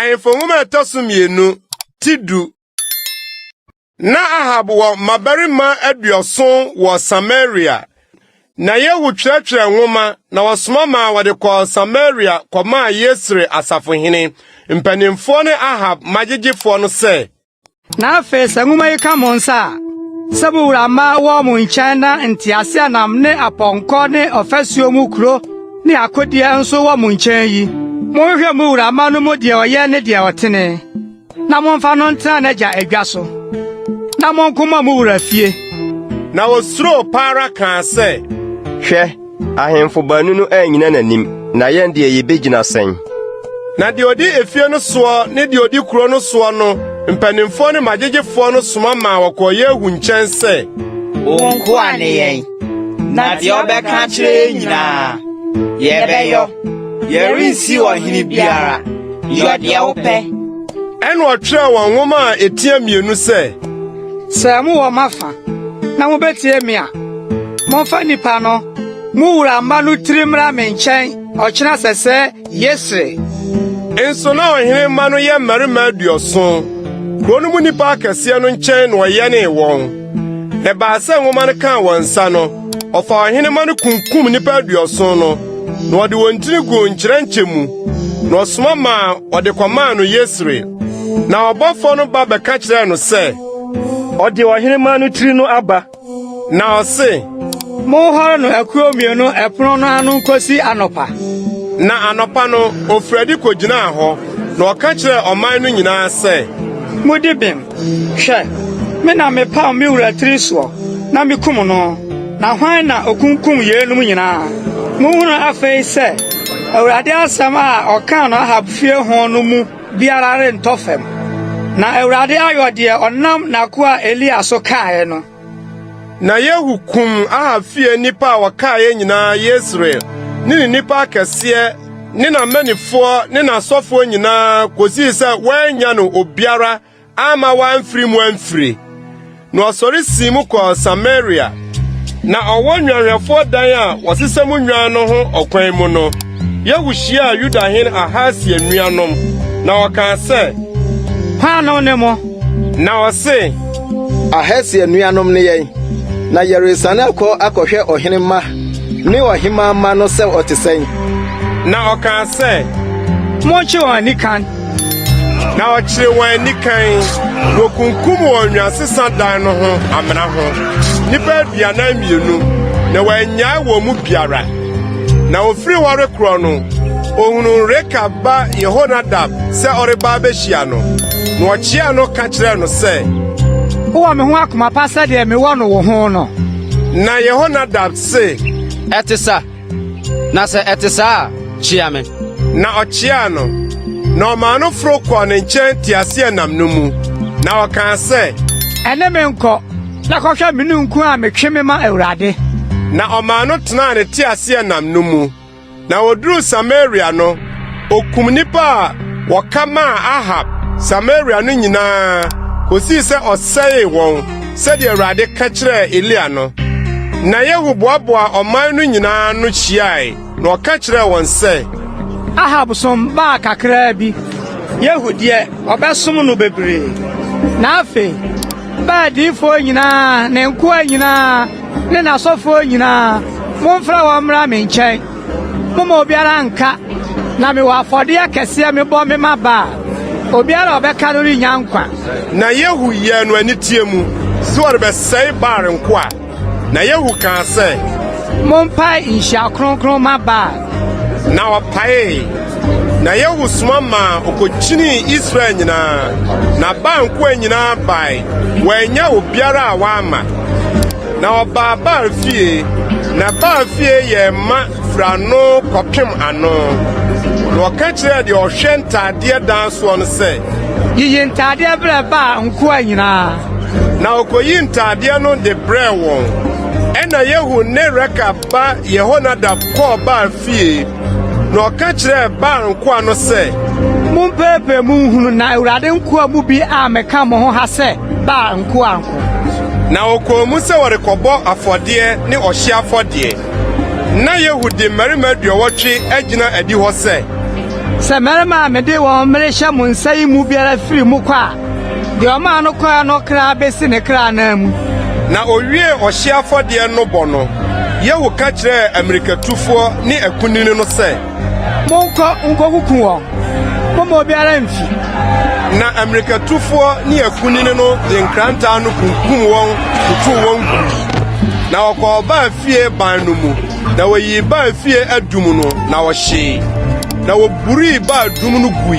Ahemfo nwoma ɛtɔ so mmienu ti du. Na Ahab wɔ mmabarima aduɔson wɔ Samaria. Na Yehu twerɛtwerɛ nwoma na wɔsoma maa wɔde kɔɔ Samaria kɔmaa Yesre asafohene, mpanimfoɔ ne Ahab magyegyefoɔ no sɛ, Na afei sɛ nwoma yi ka mo nsa a, sɛ mo wura mma wɔ mo nkyɛn na nteaseɛnam ne apɔnkɔ ne ɔfasuo mu kuro ne akodeɛ nso wɔ mo nkyɛn yi, monhwɛ mo wura mma no mu deɛ ɔyɛ ne deɛ ɔtene, na momfa no ntena n'agya adwa so, na monko mmɔ mo wura fie. Na wɔsuroo pa ara kaa sɛ, Hwɛ! Ahemfo baanu no annyina n'anim, na yɛn deɛ yebegyina sɛn?” Na deɛ ɔdi efie no soɔ ne deɛ ɔdi kuro no soɔ no mpanimfoɔ ne magyegyefoɔ no soma maa wɔkɔɔ Yehu nkyɛn sɛ, Wo nkoa ne yɛn, na deɛ wobɛka akyerɛ yɛn nyinaa, yɛbɛyɔ. Yɛrensi wo ɔhene biara. Yɔ deɛ wopɛ. Ɛnna ɔtwerɛɛ wɔn nwoma a ɛtia mmienu sɛ. Sɛ mowɔ m'afa na mubetie me a, momfa nnipa no, mo wura mma no tiri mmra me nkyɛn ɔkyena sɛsɛ Yesreel. Nso na ɔhene mma no yɛ mmarima aduɔson. Kurow no mu nnipa akɛseɛ no nkyɛn na ɔyɛnee wɔn. Na ɛbaa sɛ nwoma no kaa wɔn nsa no, ɔfaa ɔhene mma no kunkum nnipa aduɔson no, na ɔde wɔn tiri guu nkyerɛnkyɛ mu, na ɔsoma maa wɔde kɔmaa no Yesreel. Na ɔbɔfoɔ no ba bɛka kyerɛɛ no sɛ, Ɔde ɔhenemma no tiri no aba. Na ɔse, Monhɔre no akuo mmienu ɛpono no ano nkɔsi anɔpa. Na anɔpa no, ɔfiri adi kɔgyinaa hɔ, na ɔka kyerɛɛ ɔman no nyinaa sɛ, Modi bem! Hwɛ, me na mepaw me wura tiri soɔ, na mekum no. Na hwan na ɔkunkum yeinom nyinaa? Monhunu afei sɛ Awurade asɛm a ɔkaa no Ahab fie ho no mu. biara rentɔ fam. Na Awurade ayɔ deɛ ɔnam n'akoa Elia so kaeɛ no. Na Yehu kum Ahab fie nnipa a wɔkaeɛ nyinaa, Yesreel ne ne nnipa akɛseɛ ne n'amannifoɔ ne n'asɔfoɔ nyinaa kɔsii sɛ wɔannya no obiara amma wɔamfiri mu amfire. Na ɔsɔre sii mu kɔɔ Samaria. Na ɔwɔ nnwanhwɛfoɔ dan a wɔsesa mu nnwan no ho ɔkwan mu no, Yehu hyiaa Yuda hene Ahasia nuanom, na ɔkaa sɛ, Hwan na ɔne mo? Na ɔse, Ahasia nuanom ne yɛn, na yɛresane akɔ akɔhwɛ ɔhene mma ne ɔhemmaa mma no sɛ ɔte sɛn. Na ɔkaa sɛ, Monkye wɔn anikann. na ɔkyere wɔn anikan. Wokunkum wɔn nwansesa dan no ho amena ho nnipa aduanan mmienu, na wɔannyae wɔn mu biara. Na ofiri hɔ rekorɔ no, ohunuu Rekab ba Yehonadab sɛ ɔreba abehyia no, na ɔkyeaa no ka kyerɛɛ no sɛ, Wowɔ me ho akoma pa sɛdeɛ mewɔ no wo ho no? Na Yehonadab se, Ɛte sa. Na sɛ ɛte saa a, kyia me. Na ɔkyeaa no, na ɔmaa no foro kɔɔ ne nkyɛn teaseɛnam no mu, na ɔkaa sɛ, Ɛne me nkɔ, na kɔhwɛ me ninkunu a metwe me ma Awurade. Na ɔmaa no tenaa ne teaseɛnam no mu. Na wɔduruu Samaria no, Okum nnipa a wɔka maa Ahab Samaria no nyinaa kosii sɛ ɔsɛee wɔn sɛdeɛ Awurade ka kyerɛɛ Elia no. Na Yehu boaboaa ɔman no nyinaa ano hyiae na ɔka kyerɛɛ wɔn sɛ, Ahab som baa kakraa bi, Yehu deɛ, ɔbɛsom no bebree. Na afei Baal diyifoɔ nyinaa, ne nkoa nyinaa ne n'asɔfoɔ nyinaa, momfrɛ wɔn mmra me nkyɛn. Momma obiara nnka, na mewɔ afɔdeɛ kɛseɛ mebɔ mema Baal, obiara a ɔbɛka no rennya nkwa. Na Yehu yɛɛ no aniteɛ mu sɛ ɔrebɛsɛe Baal nkoa, na Yehu kaa sɛ. Mompae nhyia kronkron ma Baal. Na wɔpaee, na Yehu soma maa ɔkɔkyinii Israel nyinaa, na Baal nkoa nyinaa bae, wɔannya obiara a wɔamma. Na ɔbaa Baal fie, na Baal fie yɛ ma firi ano kɔpem ano. Na wɔka kyerɛɛ deɛ ɔhwɛ ntaadeɛ dan soɔ no sɛ. Yiyi ntaadeɛ brɛ Baal nkoa nyinaa. Na ɔkɔyi ntaadeɛ no de brɛɛ wɔn. Ɛnna Yehu ne Rekab. ba Yehonadab kɔɔ Baal fie, na ɔka kyerɛɛ Baal nkoa no sɛ, Mompeepee mo nhunu na Awurade nkoa mu bi ammɛka mo ho ha sɛ Baal nkoa nko. Na wɔkɔɔ mu sɛ wɔrekɔbɔ afɔdeɛ ne ɔhyeɛ afɔdeɛ. Na Yehu de mmarima aduɔwɔtwe agyina adihɔ sɛ. Sɛ mmarima a mede wɔn merehyɛ mo nsa yi mu biara firi mu kɔ a, Deɛ ɔmaa no kɔɛ no kra bɛsi ne kra anan mu. Na owiee ɔhye afɔdeɛ no bɔ no, Yehu ka kyerɛɛ ammirikatufoɔ ne akunini no sɛ, Monkɔ nkɔkuku wɔn, momma obiara mfi. Na ammirikatufoɔ ne akunini no de nkrantaa no kunkum wɔn totow wɔn gui. Na wɔkɔɔ baa fie ban no mu, na wɔyii baa fie adum no, na wɔhyee. Na wɔburii baa dum no gui,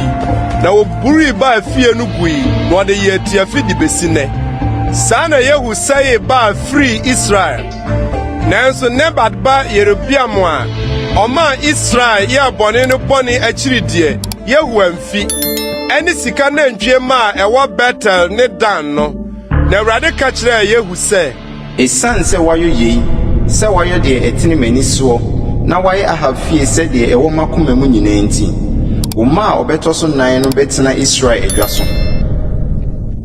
na Purii baa fie no gui na ɔde yɛɛ tiafi de besi nnɛ. Saa na Yehu sɛee Baal firii Israel. Nanso Nebat ba Yerobeam a ɔmaa Israel yɛɛ bɔne no bɔne akyiri deɛ, Yehu amfi. Ɛne sika nantwie mma a ɛwɔ Betel ne Dan no. Na Awurade ka kyerɛɛ Yehu sɛ, Esiane sɛ woayɔ yei, sɛ woayɔ deɛ ɛtene m'ani soɔ, na woayɛ Ahab fie sɛ deɛ ɛwɔ m'akoma mu nyinaa nti, wo mma a wɔbɛtɔ so nan no bɛtena Israel adwa so.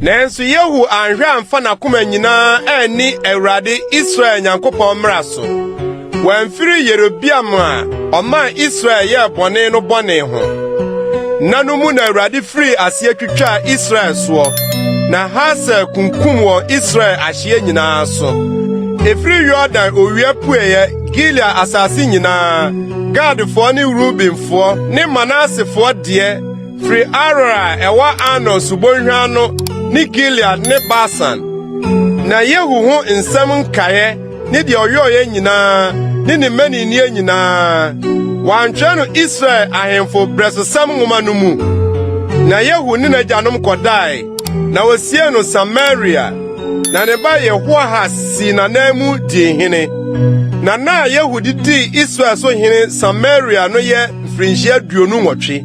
Nanso Yehu anhwɛ amfa n'akoma nyinaa anni Awurade, Israel Nyankopɔn mmara so. Wɔamfiri Yerobeam a ɔmaa Israel yɛɛ bɔne no bɔne ho. Nna no mu na Awurade firii aseɛ twitwaa Israel soɔ, na Hasael kunkum wɔn Israel ahyeɛ nyinaa so. Ɛfiri Yordan owia pueeɛ Gilead asase nyinaa, Gadfoɔ ne Rubenfoɔ ne Manasefoɔ deɛ, firi Aroer a ɛwɔ Arnon subɔnhwa ano ne Gilead ne Basan. Na Yehu ho nsɛm nkaeɛ ne deɛ ɔyɔeɛ nyinaa ne ne mmaninnie nyinaa. Wɔantwerɛ no Israel ahemfo berɛsosɛm nwoma no mu. Na Yehu ne n'agyanom kɔdae, na wɔsiee no Samaria. Na ne ba Yehoahas sii n'ananmu dii hene. Na nna a Yehu de dii Israel so hene Samaria no yɛ mfirinhyia aduonu nwɔtwe.